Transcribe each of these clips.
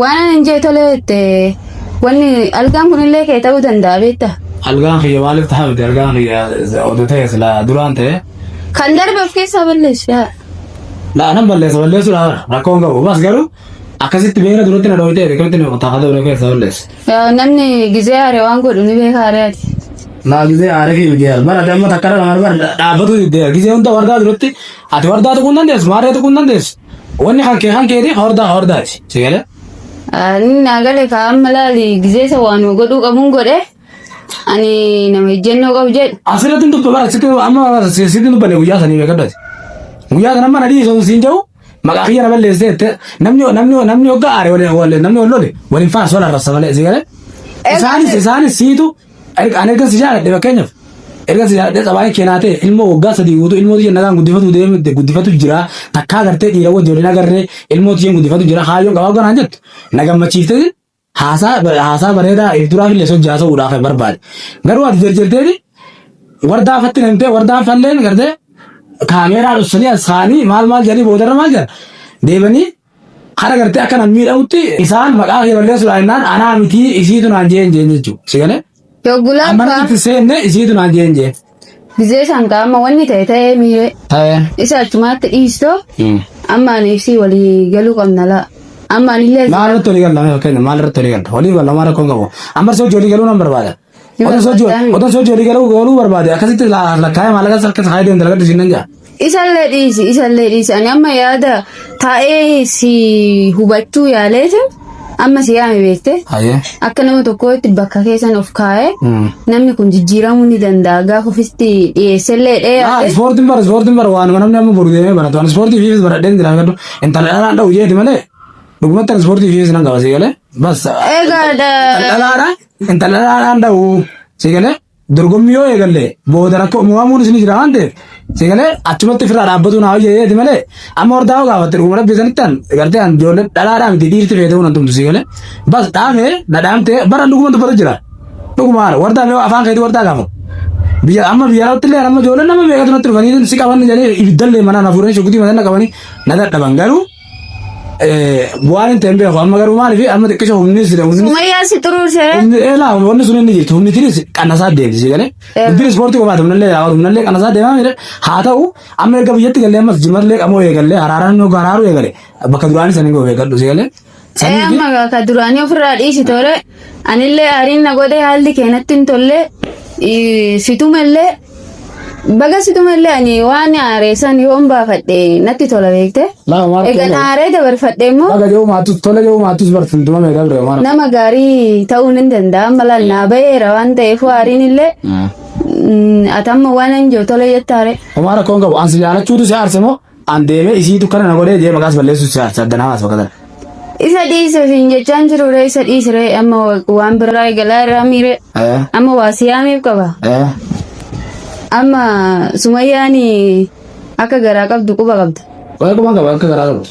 Waan ani hin jee tolee jette wanni algaan kunillee kee ta'uu danda'a beekta. Algaan kiyya maaliif ta'a miti algaan kiyya oduu ta'e silaa duraan ta'e. Kan darbe of keessaa balleessu yaa. Laa nan balleessa balleessuu dhaa rakkoon qabu bas garuu akkasitti beera duratti na dhooytee akkamitti na qotaa haadha keessaa balleessa. Yaa namni gizee haare waan godhu ni beeka haare ati. Laa gizee haare kiyya miti yaa bara damma takka dhala mara bara dhaabbatuu diddee gizee hunda wardaa duratti ati wardaa tuquu hin dandeessu maarree tuquu hin dandeessu. Wanni kan kee kan keeti hordaa hordaati. Si galee? Ani naa gale kaa amma laali gizeessa waanuma godhuu qabuun godhe ani nama ejjennoo qabu jedhu Asirratti dubba bara sitti amma sitti dubbanne guyyaa sanii beekadhati. Guyyaa sana amma nadhii sun siin jedhu maqaa kiyya na balleessee jette namni namni namni hoggaa aare waliin waliin namni wal lole waliin faana sola rassa malee si galee. Isaanis isaanis siitu Erga- Ani erga si jaaladhe fakkeenyaaf erga si jaaladhe xabaayii kee naa ta'e ilmoo waggaa sadii guutuu ilmoo tiyya nagaan guddifatu deemte guddifatu jira takkaa gartee dhiira wajjin waliin agarree ilmoo tiyyan guddifatu jira kaayyoon qabaa ganaan jettu na gammachiifte haasaa haasaa bareedaa if duraaf illee sochii haasa'uudhaaf barbaade garuu ati jarjarteeti wardaa fatti namtee wardaan falleen gartee kaameeraa dhussanii as kaanii maal maal jedhanii boodarra maal jedhan deebanii Hara gartee akka nan miidhamutti isaan maqaa kee balleessuudhaan innaan anaa mitii isiitu naan jeen jeen jechuu. Si galee? Yoggulaan Amma faa nuti seenne isiitu naan jeen jeen. gizee isaan kaa amma wanni ta'e ta'ee miiree. Ta'ee. Isa achumaatti dhiistoo amma ani ibsii walii galuu qabna laa. Amma ani illee Maal irratti walii galla? Mee fakkeenya maal irratti walii galla? Walii galla maal rakkoon qabu? Amma si hojii walii galuu nan barbaada. Otan sochii olii galuu galuu barbaade akkasitti lakkaa'ee maallaqa harka isaa deemu dalagaa dhiisiin nan ja'a. Isallee dhiisi isallee dhiisi ani amma yaada taa'ee si hubachuu yaaleetu amma si yaame beekte Hayyee. akka nama tokkootti bakka keessan of kaa'ee namni kun jijjiiramuu ni danda'a gaafa ofitti dhiyeessellee dhee Ah, yaade ispoortiin bara ispoortiin bara waanuma namni amma boru deemee baratu. Ani ispoortii fiifis baradhee hin dalagadhu. Intala dhalaan dha'u jeeti malee. Dhugumatti ani ispoortii fiifis nan qabasee galee. Bas. Egaa dha- Dhalaadha. Intala dhaadhaan dha'u sigalee dorgommii yoo eegalle booda rakkoo moo'amuun isin jira waan ta'eef sigalee achumatti ofirraa dhaabbatuun haa hojjeteeti malee amma hordaa yoo gaafatte dhuguma rabbi isanitti an gartee an ijoollee dhadhaadhaa miti dhiirti feetee waan tumtu sigalee bas dhaame dhadhaamtee bara dhuguma dubbatu jira dhuguma haala wardaa mee afaan keetii wardaa gaafatu biyya amma biyya raawwatti illee amma ijoolleen nama beekatu natti dhufanii si qaban jedhee ibiddallee manaan hafuuranii shukutii mataa na qabanii na dadhaban garuu Bu'aan hin ta'in beeku amma garuu maaliif amma xiqqisha humni sida humni Sumayyaa si xuruurse. humni eelaa wanni sun inni jirtu humni tiris qannasaa deemti si galee Eh. dubbiin ispoortii qofaati humni illee yaa'u humni illee qannasaa deemaa mire haa ta'u amma erga biyyatti galee ammas jimallee qamoo eegalee haraaraan yoo haraaruu eegale bakka duraanii sanii goo eegadhu si galee. Ee amma ka duraanii ofirraa dhiisi tole. Anillee aariin na godhe haalli keenatti hin tolle. Situmellee Baga situma illee ani waan aaree san yoon baafadhe natti tola beekte. Laa maal Egan ta'e? aaree dabarfadhe immoo Baga yoo maattus tola yoo maattus bar fuuldura mee dabre maal. nama gaarii ta'uu nan danda'a amma laal naa ba'eera waan ta'eef aariin illee mm, ati amma waan hin jiru tola jette aaree. Homaa rakkoon qabu ansi jaalachuutu si aarse moo An deemee isiitu kana na godhee jee maqaas balleessu saaddanaa haasa bakka tana. Isa dhiise siin jechaan jiru ree isa dhiise ree amma wa- waan biraa eegalaa irraa miire Eh, amma waa siyaamiif qaba eh, amma sumayyaan akka garaa qabdu quba qabda waa'ee quban qaba akka garaa qabdu.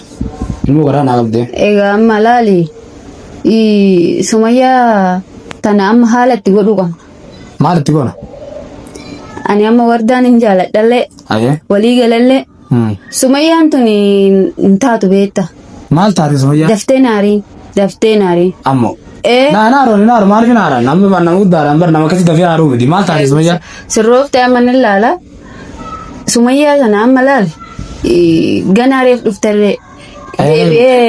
Immoo garaa naa qabdee. egaa amma laali ii, sumayyaa tana amma haala itti godhuu qabna Maal itti goona? Ani amma wardaan hin jaaladhallee Ayee. walii galallee Hmm. sumayyaan tun hin taatu beekta. Maal taate sumayyaa? Daftee naarii daftee naarii. Ammoo. Ee Naa naa roon naa roon maaliif hin haaraan? Namni waan nama guddaadhaan bar nama akkasii dafee haaruu miti. Maal taate sumayyaa? sirroofte amma ni laala sumayyaa sana amma laal eh, ganaa reef dhufterree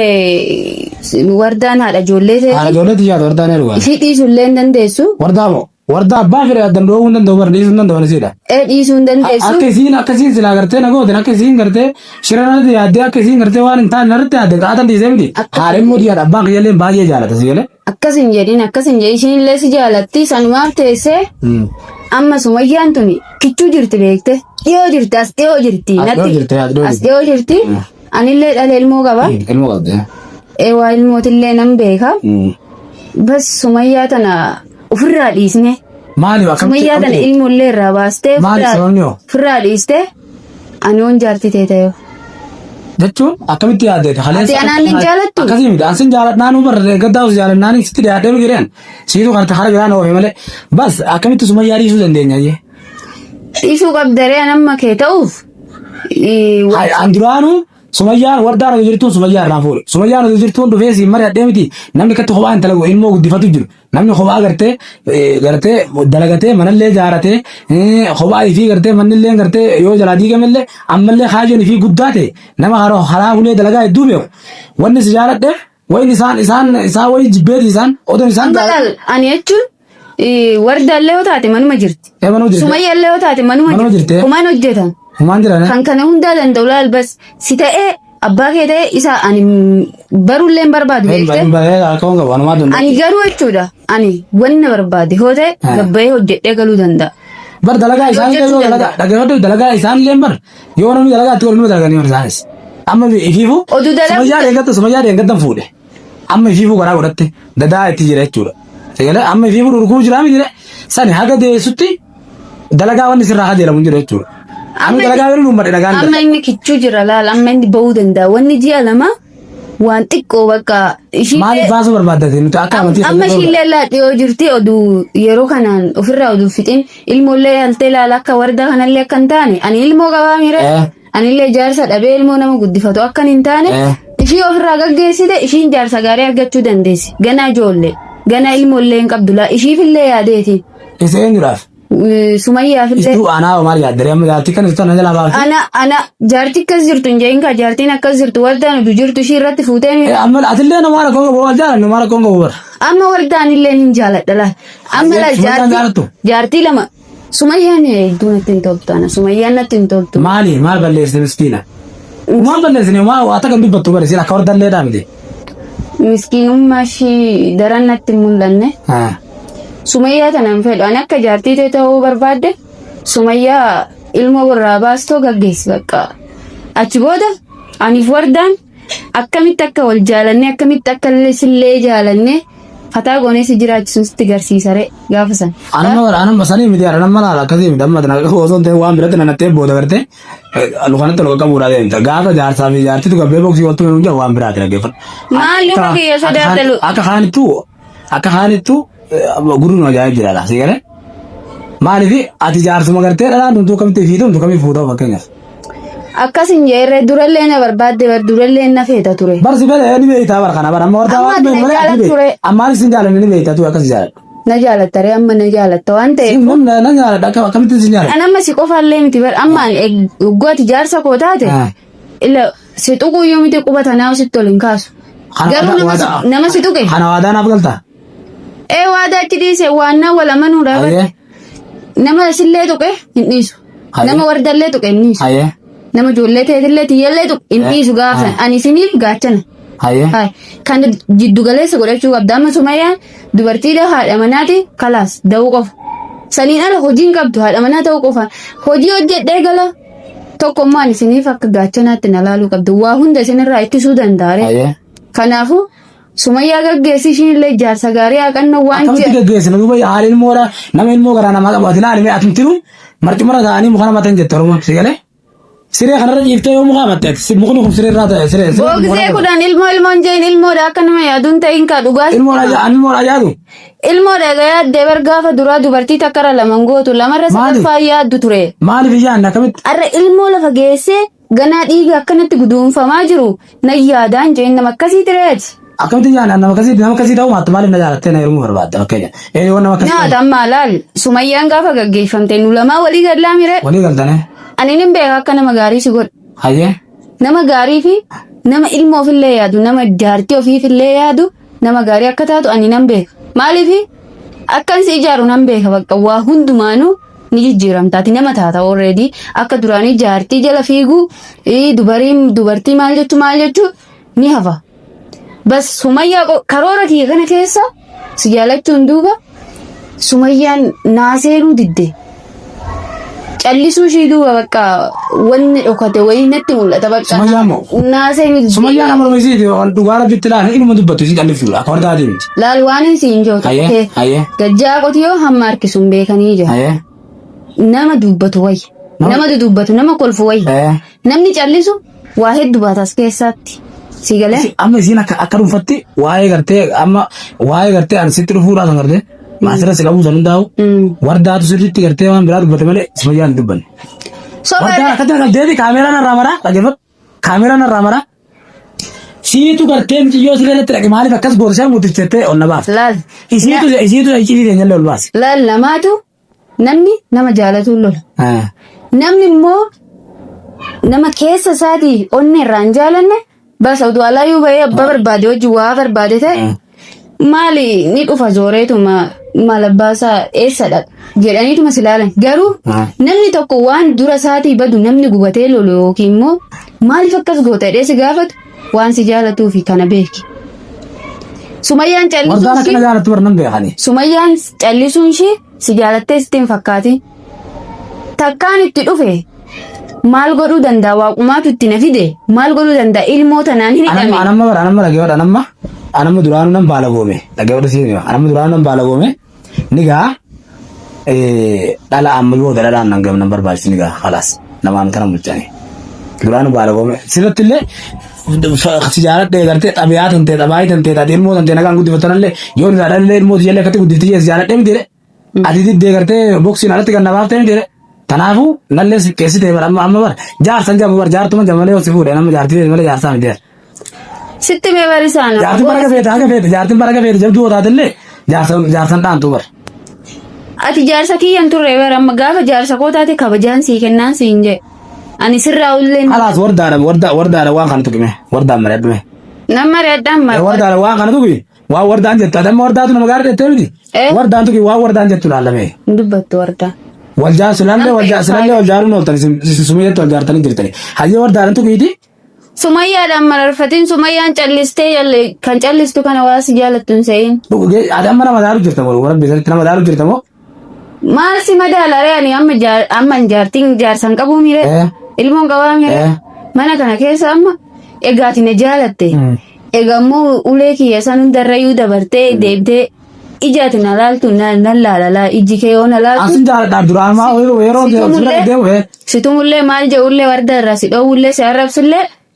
Deebi'ee wardaan haadha ijoollee Haadha ta'eeti. ijoollee tiyyaatu wardaa ni dhugaa. Ishii dhiisuu illee hin dandeessu. Wardaa moo? Wardaa abbaa fedhe addan dhoowwuu hin danda'u bara dhiisuu hin danda'u isiidha. Ee dhiisuu hin dandeessu. Akka isiin akka isiin silaa gartee na gootin akka isiin gartee shira narratti yaaddee akka isiin gartee waan hin taane narratti yaadde qaatan dhiisee miti. Haadha immoo tiyyaadha abbaan kiyyallee baay'ee jaalata si galee. Akkas hin jedhin akkas hin jedhin ishiin illee si jaalatti sanumaaf teessee amma sumayyaan tuni kichuu jirti beekte dhiyoo jirti as dhiyoo jirti As dhiyoo jirti, as dhiyoo as dhiyoo jirti anillee dhala ilmoo qaba Ilmoo qabdi. ee waa ilmootillee nan beeka bas sumayyaa tana ofirraa dhiisne Maaliif akkamitti? sumayyaa tana ilmoollee irraa baastee Maali ofirraa- sababni hoo? ofirraa dhiiste Ani oon jaartii ta'e ta'eef. jechuun akkamitti yaadde Ati anaan hin jaalattu? akkasii miti an sin jaaladhaa nu barre gaddaa si jaaladhaa ni sitti dhiyaadhee miti jedhan siitu kan hara biraa na oofe malee bas akkamitti sumayyaa dhiisuu dandeenya jee Dhiisuu qabdaree an amma kee ta'uuf. Ii, wa- Hai, an duraanuu sumayyaan wardaan hojii jirtuun sumayyaa irraa fuudhe sumayyaan hojii jirtuun dhufee siin mari'adhee miti namni katti kophaa hin talagu ilmoo guddifatu jiru Namni kophaa gartee eh, gartee dalagatee manallee jaaratee eh, kophaa ifii gartee mannillee gartee yoo jalaa diigamellee ammallee kaayyoon ifii guddaa ta'e nama hara haraa hulee dalagaa hedduu beeku wanni si jaaladhe wayin isaan isaan isaan wayii jibbeeti isaan odoon isaan Amma laal ani jechuun eh, warda illee yoo taate manuma jirti. eemanuu jirte Sumayya illee yoo taate manuma Manuma jirti. jirti. Kumaan hojjetan. humaan jira Kan kana hundaa danda'u laal bas si ta'ee abbaa kee ta'e isa ani baruullee hin barbaadu beekte. Rakkoon qabu wanumaa danda'u. Ani garuu jechuudha ani wanna barbaade hoo ta'e Ah. gabbayee hojjedhee galuu danda'a. Bar dalagaa isaan illee yoo dalagaa dhaggeeffadhu dalagaa isaan illee bar yoo namni dalagaa itti waluma dalaganii bar isaanis. Amma ifiifuu Oduu dalagu- sumayyaa deeggatta sumayyaa deeggattan fuudhe. Amma ifiifuu garaa godhatte dadaa itti jira jechuudha. Sagalee amma ifiifuu dhurguu jiraa mi jira sani haga deessutti Dalagaa wanni sirraa hajeelamu hin jiru jechuudha. Amma dalagaa yoo uummadhe nagaan amma dalagaa. inni kichuu jira laal amma inni ba'uu danda'a wanni ji'a lama waan xiqqoo bakka Maaliif ishiillee baasuu barbaaddate nuti akka amantii amma sirrii ishiillee laa dhiyoo jirti oduu yeroo kanaan ofirraa oduu fixin ilmoollee yaaltee laala akka wardaa kanallee akka hin taane ani ilmoo qabaa miira Eh. Anillee jaarsa dhabee ilmoo nama guddifatu akkan hin taane Eh. ishii ofirraa gaggeessite ishiin jaarsa gaarii argachuu dandeessi. Ganaa ijoollee. Ganaa ilmoollee hin qabdu laa ishiifillee yaadeeti. Isa eenyudhaaf? Eh, Sumayyaafillee. Istuu aanaa maal yaaddaree amma jaartii kana istuu ana jalaa baafte. Ana ana jaartii akkas jirtu hin jeeyin kaa jaartiin akkas jirtu waldaan udu jirtu ishii irratti fuutee miidha. Eh, Amma atillee nama haala koonga boo'aa jaalan nama haala koonga boo'aa. Amma waldaan illee hin jaaladha laa. Amma laa Sumayyaan jaalattu? jaartii jaartii lama Sumayyaan hedduu natti hin toltu ana. Sumayyaan natti hin toltu. Maali maal balleessite miskiina? Maal balleessine maal waa takka hin dubbattu bari siin akka hordallee dhaabde. Miskiinummaa ishii daran natti hin mul'anne. Ah. Sumayyaa tana hin fedhu. Ani akka jaartii tee ta'uu barbaadde Sumayyaa ilmoo warraa baastoo gaggeessi bakka. Achi booda aniif wardaan akkamitti akka wal jaalannee akkamitti akka illee sillee jaalannee fataa goonee si jiraachisuun sitti garsiisare gaafa san. Anuma anuma sanii miti anuma nama laala akkasii miti amma tana osoo hin ta'in waan biratti nana ta'e booda gartee lukanatti ol qabuudhaa deemta gaafa jaarsaa fi jaartitu gabbee boksii waltu hin waan biraati dhaggeeffadhu. Maal luka kiyya sodaatalu? Akka kaanittu Akka kaanittu gurri nu ajaa'ib jira laasii galee. Maaliif ati jaarsuma gartee dhalaa tuntuu akkamitti fi tumtu kamiif fuutaa fakkeenyaaf. Akkas hin jeerre durallee na barbaadde bar durallee na feeta ture. Barsi galee ni beektaa bara kana bara amma wartaa Amma waan ati na malee ati jaalatu beekta. ture. Ammaan isin jaalanne ni beektaa tuu akkas jaaladha. Na jaalatta ree amma na jaalatta waan ta'eef. Siin kun na jaaladha akka- akkamitti isin jaaladha. An amma si qofaallee miti bar amma an eeg- waggooti jaarsa koo taate. Ah. Ila si tuquu yoo miti quba tanaa sitti ol hin kaasu. Kana Garuu waadaa- nama si- waadaa- nama si tuqe. Kana waadaa naaf galta. Ee waadaa achi dhiise waannaa wal amanuudha. Ayyee. Nama sillee tuqe hin dhiisu. Aye. Nama wardallee tuqe hin dhiisu. Ayyee. Nama ijoollee teetillee tiyyallee tuqe hin Eh. dhiisu gaafsan. Aye. Ani isiniif gaachana. Ayyee. Aye. Kan jiddu galeessa godhachuu qabda. Amma sumayyaan dubartiidha haadha manaati kalaas da'uu qofa. Saniin ala hojiin qabdu haadha manaa ta'uu qofa. Hojii hojjedhee gala Tokkummaan isiniif akka gaachanaatti na laaluu qabdu. Waa hunda isinirraa ittisuu danda'a. Ayee. Kanaafuu sumayyaa gaggeessi ishiin illee jaarsa gaarii haqannoo waan Akkamitti ji'a. gaggeessina duuba haala ilmoodha nama ilmoo garaa namaa qabu ati laalime atumtinu marcumarra ta'anii muka nama ta'an jette oromoon si galee siree kanarra ciiftee yoo muka amatte ati si- mukni kun siree irraa ta'e siree siree Boogisee kudhan ilmoo ilmoon jeen ilmoodha akka nama yaaduun ta'in kaa dhugaas. ilmoodha ja- ani ilmoodha jaadu Ilmoo dhaga yaaddee bar gaafa duraa dubartii takka irra lama hin gootu lamarra Maali? sadaffaa hin yaaddu ture. Maaliif hin yaadne akkamitti? Har'a ilmoo lafa geessee ganaa dhiiga akkanatti guduunfamaa jiru nan yaadaan jeen nama akkasii tireeti. Akkamitti hin yaadne? Nama akkasii nama akkasii ta'uu maattu maaliif na jaalattee na heerumuu barbaadda fakkeenya. Ee yoo nama akkasii Nyaata ta'u ammaa laal sumayyaan gaafa gaggeeffamte nu lamaa walii gad laamire. walii galtane. Ani nin beeka akka nama gaarii si godhu. Hayyee. Nama gaarii fi nama ilmoof illee yaadu nama jaartii ofiif illee yaadu Nama gaarii akka taatu ani nan beeka. Maaliif akkan si ijaaru nan beeka bakka waa hundumaanuu ni jijjiiramta. Ati nama taata already akka duraanii jaartii jala fiiguu ii, dubarii dubartii maal jechuu maal jechuu ni hafa. Bas sumayyaa qo- karoora kiyya kana keessa si jaalachuun duuba Sumayyaan naa seenuu didde. Callisuu ishii duuba bakka wanni dhokate wayii natti mul'ata bakka. Sumayyaa moo? Naa seenuu didde. Sumayyaa nama nama isiiti waan dhugaa rabbitti laala inuma dubbatu isii callisuu akka wardaa deemti. Laal waan isiin jootu. Aye, aye. Gajjaa qotiyoo hamma harkisuun beekanii jira. Aye. Nama dubbatu wayya. Nama- Nama dudubbatu, nama kolfu wayya. Eh. Namni callisu waa heddu baata as keessaatti. Si galee? Isi- amma isiin akka akka dhuunfatti waa'ee gartee amma waa'ee gartee ani sitti dhufuudhaa kan gartee maasira si qabuu san hundaa'u Mm. wardaatu sirriitti gartee waan biraa dubbate malee si fayyaan hin dubbanne. Soba Wardaan irra- akkatti kan deebi kaameeraan irraa maraa dhaggeeffadhu. Kaameraa narraa mara. Siitu gartee miciyyoo siree irratti dhaqe maaliif akkas gorsee mutis jettee ol na baafte. Laal. Isiitu isiitu iccitii ta'e jallee ol baase. Laal lamaatu namni nama jaalatuun lola. Ah. Namni immoo nama keessa isaatii onnee irraa hin jaalanne bas oduu alaayyuu bahee abbaa barbaade wajjin waa barbaade ta'e maali ni dhufa zooreetuma maal abbaasaa eessa dhaqa jedhaniituma si ilaalan garuu namni tokko waan dura isaatii badu namni gubatee lolu yookiin immoo maaliif akkas goota jedhee si gaafatu waan si jaalatuu fi kana beeki. Sumayyaan Wardaan callisuun akkana ishee jaalatti warra nan beekani. Sumayyaan callisuun ishee si jaalattee sitti hin fakkaatin. takkaan itti dhufe maal godhuu danda'a waaqumaatu itti na fide maal godhuu danda'a ilmoo tanaan hin Anamma hidhame anamma bara anamma dhaggeeffadha anamma anamma duraanu nan baala goome dhaggeeffadha siin hima anamma duraanu nan baala goome ni gaa eh, dhala amma yoo dhalaan nan gam nan barbaachisi ni gaa khalaas namaan tana bulchaani duraanu baala goome sirratti illee sijaarat dhee gartee xabiyaa tantee xabaayii tantee taatee ilmoo tantee nagaan guddifatanallee yoo ni dhaadhallee ilmoo tiyyalee akkatti guddifti jee sijaarat dhee miti Ati diddee gartee boksiin alatti kan na baaftee miti jedhe. Kanaafuu lalleen si qeessitee bara amma amma bara jaarsan jabu bara jaartuma jabu malee yoo si fuudhe nama jaartii feeti malee jaarsaa miti jedhe. Sitti mee barisaa nama. Jaartiin bara gafeete haga feete jaartiin bara gafeete jabduu yoo taatellee jaarsan jaarsan dhaantuu bara. Ati jaarsa kiyya hin turre bara amma gaafa jaarsa koo taate kabajaan sii kennaan siin jedhe. Ani sirraa ulleen Kalaas wardaadha wardaa wardaadha waan kana tuqime wardaan mari'adhume. nama reeddaan mara. Wardaadha waan kana tuqi Waan wardaan jettu adamma wardaatu nama gaara jettee miti. Eh. Wardaan tuki waan wardaan jettu laallamee. hin dubbattu wardaa. Wal jaarsu laallee Namni wal jaarsu faayidaa- laallee wal jaaruun ooltan isin isin sumayyeetti wal jaartanii jirtani. Hayyee wardaan tukiiti. Sumayyaadhaan mararfatiin sumayyaan callistee yalle kan callistu kana waa si jaalattu hin se'in. Adamma nama daaru jirta moo warra beeksanitti nama daaru jirta moo. Maal si madaala ree ani amma jaar- amma hin jaartiin jaarsan qabuu miire Eh. ilmoon qabaa miire Eh. mana kana keessa amma egaati na jaalatte Mm. egaa immoo ulee kiyya san hundarrayyuu dabartee deebitee ijaati na laaltu na na laalalaa ijji kee yoo na laaltu Asin jaaladha duraan maa yeroo yeroo Situmullee- deemu eh. situmullee maal je'ullee warda irraa si dhoowwullee si arrabsullee